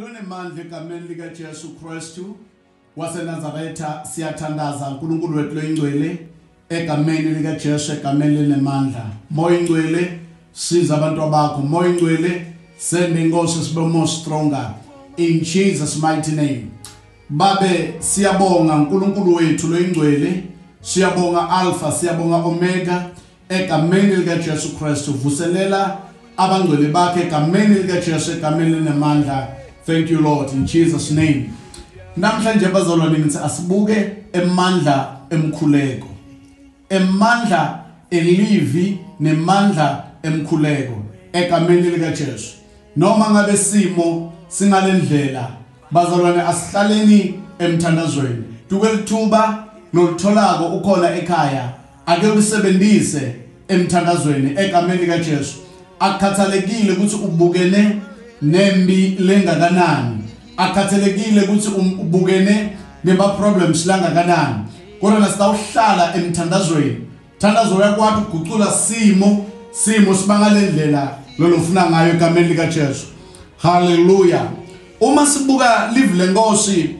Lonemandla egameni likaJesu Kristu waseNazaretha siyathandaza uNkulunkulu wethu loyingcwele egameni likaJesu egameni lenemandla moya ingcwele siza abantu abakho moya ingcwele sende inkosi sibe more stronger in Jesus mighty name babe siyabonga uNkulunkulu wethu loyingcwele siyabonga alpha siyabonga omega egameni likaJesu Kristu vuselela abangcwele bakhe egameni likaJesu egameni linemandla thank you Lord in Jesus name namhlanje bazalwane ngithi asibuke emandla emkhuleko emandla elivi nemandla emkhuleko egameni likaJesu noma ngabe simo singalendlela bazalwane asihlaleni emthandazweni dukelithuba nolitholako ukhona ekhaya ake ulisebenzise emthandazweni egameni kaJesu akukhathalekile ukuthi ubukene nembi lengakanani akukhathalekile ukuthi um-, ubukene nema problems langakanani kodwa nasitawuhlala emthandazweni thandazo yakwathi ugucula simo simo sibangale ndlela lolofuna ngayo egameni likaJesu haleluya uma sibuka live lenkosi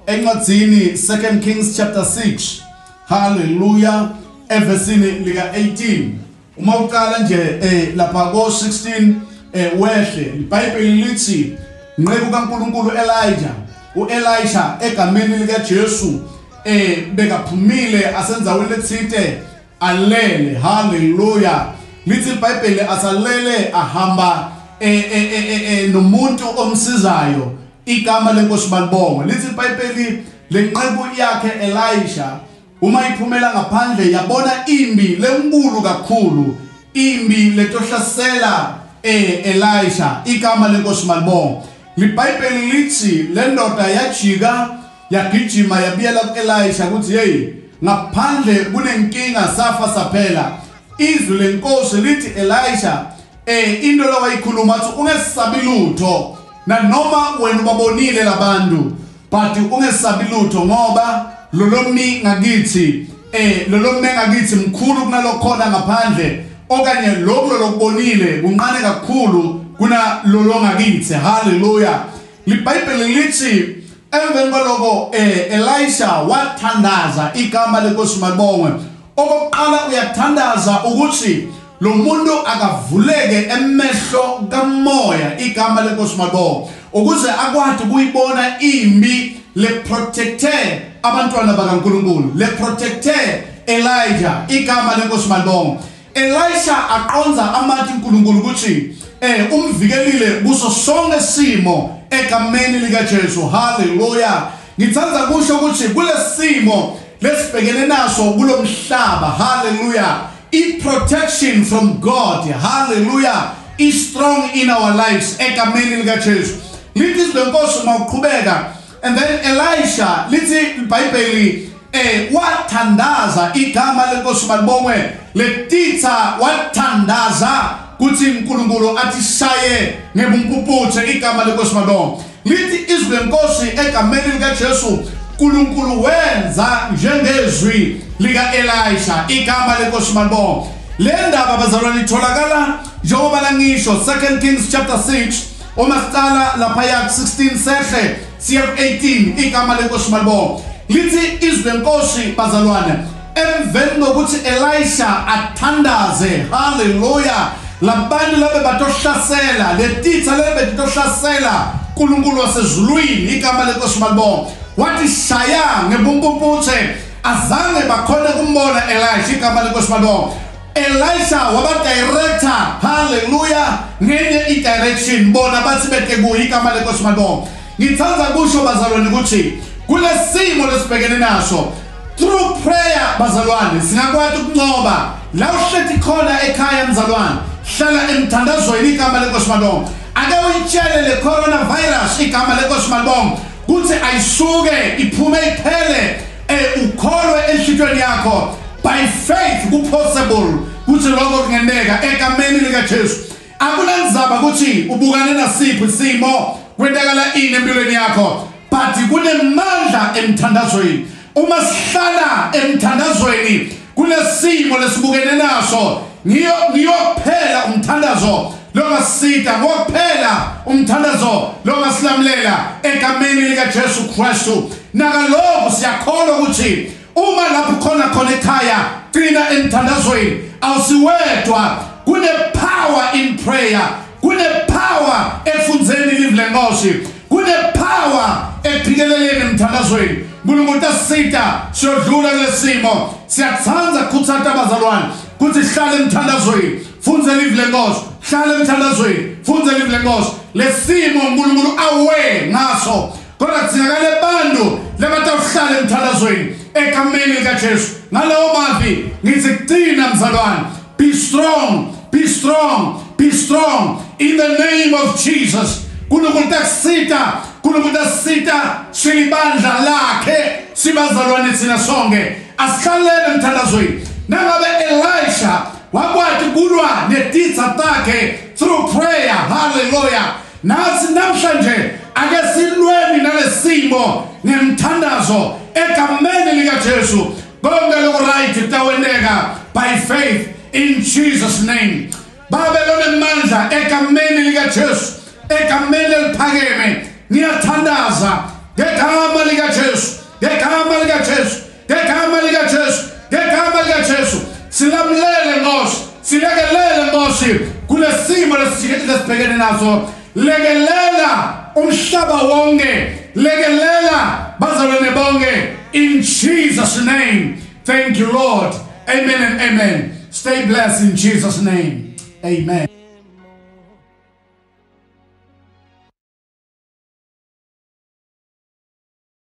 encwadzini 2 Kings chapter 6 Hallelujah. Evesini lika 18 uma uqala nje eh lapha ko 16 eh wehle iBhayibheli lithi nqeku kaNkuluNkulu Elijah uElisha egameni lika Jesu eh bekaphumile asenzaweni lethinte alele hallelujah lithi iBhayibheli asalele ahamba eh eh eh, eh, eh nomuntu omsizayo Igama leNkosi malibongwe. Lithi iBhayibheli lenceku yakhe Elisha uma iphumela ngaphandle yabona imbi lenkulu kakhulu, imbi letohlasela eh Elisha. Igama leNkosi malibongwe. LiBhayibheli lithi lendoda yajika yagijima yabiyela kuElisha ukuthi hey ngaphandle kunenkinga safa saphela. Izwi lenkosi lithi Elisha Eh into la wayikhuluma athi ungesabi lutho nanoma wena ubabonile labantu but ungesabi lutho ngoba lolomni ngakithi eh lolomni ngakithi mkhulu kunalokhona ngaphandle okanye lokho lokubonile kunqane kakhulu kuna lolongakithi haleluya libhayibheli lithi emveni kwaloko eh Elisha wathandaza igama lenkosi malibongwe okokuqala uyathandaza ukuthi Lo muntu akavuleke emehlo kamoya igama lenkosi Mabo ukuze akwadi kuyibona imbi le protecte abantwana bakaNkulunkulu le protecte Elijah igama lenkosi Mabo Elisha aqonza amathi uNkulunkulu ukuthi eh umvikelile kuso sonke simo egameni lika Jesu haleluya ngithanda kusho ukuthi kulesimo lesibhekene naso kulomhlaba haleluya I protection from God hallelujah is strong in our lives egameni lika Jesu lithi izwi lenkosi uma uqhubeka and then Elisha lithi iBhayibheli eh wathandaza igama lenkosi malibongwe letitha wathandaza kuthi uNkulunkulu athi shaye ngebumpuputhe igama lenkosi malibongwe Lithi izwi lenkosi egameni likaJesu uNkulunkulu wenza njengezwi lika-Elisha igama lenkosi malibonga le ndaba bazalwane itholakala njengoba langisho 2 Kings chapter 6 uma siqala laphaya ku-16 sehle siya ku-18 igama lenkosi malibonga lithi izwi lenkosi bazalwane Emveni kokuthi Elisha athandaze, haleluya, labantu labe batohlasela, letitha lebe betitohlasela uNkulunkulu wasezulwini, igama lenkosi malibonke. Wathi shaya ngebumpumputhe, azange bakhona kumbona Elisha, igama lenkosi malibonke. Elisha wabadirector, haleluya, ngenye i-direction, bona bathi bete kuye, igama lenkosi malibonke. Ngithanda kusho bazalwane ukuthi kulesimo lesibhekene naso Through prayer bazalwane singakwati ukuncoba la uhleti khona ekhaya mzalwane hlala emthandazweni igama lenkosi malonga ake uyitshele le coronavirus igama lenkosi malonga kuthi ayisuke iphume iphele eh, ukholwe enhlitweni yakho by faith kupossible kuthi lokho kungenteka egameni likaJesu Akunanzaba ukuthi ubukane nasiphi isimo kwentakala ini empilweni yakho but kunemandla emthandazweni uma sihlala emthandazweni kunesimo lesibukene naso ngiyo ngiyophela umthandazo longasida ngokuphela umthandazo longasilamulela egameni likaJesu Kristu nakalokhu siyakholwa ukuthi Uma lapho khona khona ekhaya qina emthandazweni awusiwedwa kune power in prayer kune power efundzeni live lenkosi kune power ekuphikeleleni emthandazweni uNkulunkulu utasisita siyodlula kulesimo siyathanda kuthanda abazalwane kuthi hlale emthandazweni fundza live lenkosi hlale emthandazweni fundza live lenkosi lesimo uNkulunkulu awe ngaso Kodwa kudingakala abantu labatawuhlala emthandazweni egameni likaJesu. Ngalawo mazwi ngithi kucina mzalwane, be strong, be strong, be strong in the name of Jesus. Kunokuthi kusita, kunokuthi asita silibandla lakhe sibazalwane thina sonke. Asihlalele emthandazweni. Nangabe Elisha wakwati kulwa netitha takhe through prayer. Hallelujah. Nathi namhlanje ake silweni nalesimo ngemthandazo egameni lika Jesu konke lokho right kutawendeka by faith in Jesus name babe lonemandla egameni lika Jesu egameni eliphakeme ngiyathandaza ngegama lika Jesu ngegama lika Jesu Ngegama lika Jesu, ngegama lika Jesu, silamulele Nkosi, silekelele Nkosi kulesimo lesibhekene naso. Lekelela umhlaba wonke, lekelela bazalwane bonke in Jesus name. Thank you Lord. Amen and amen. Stay blessed in Jesus name. Amen.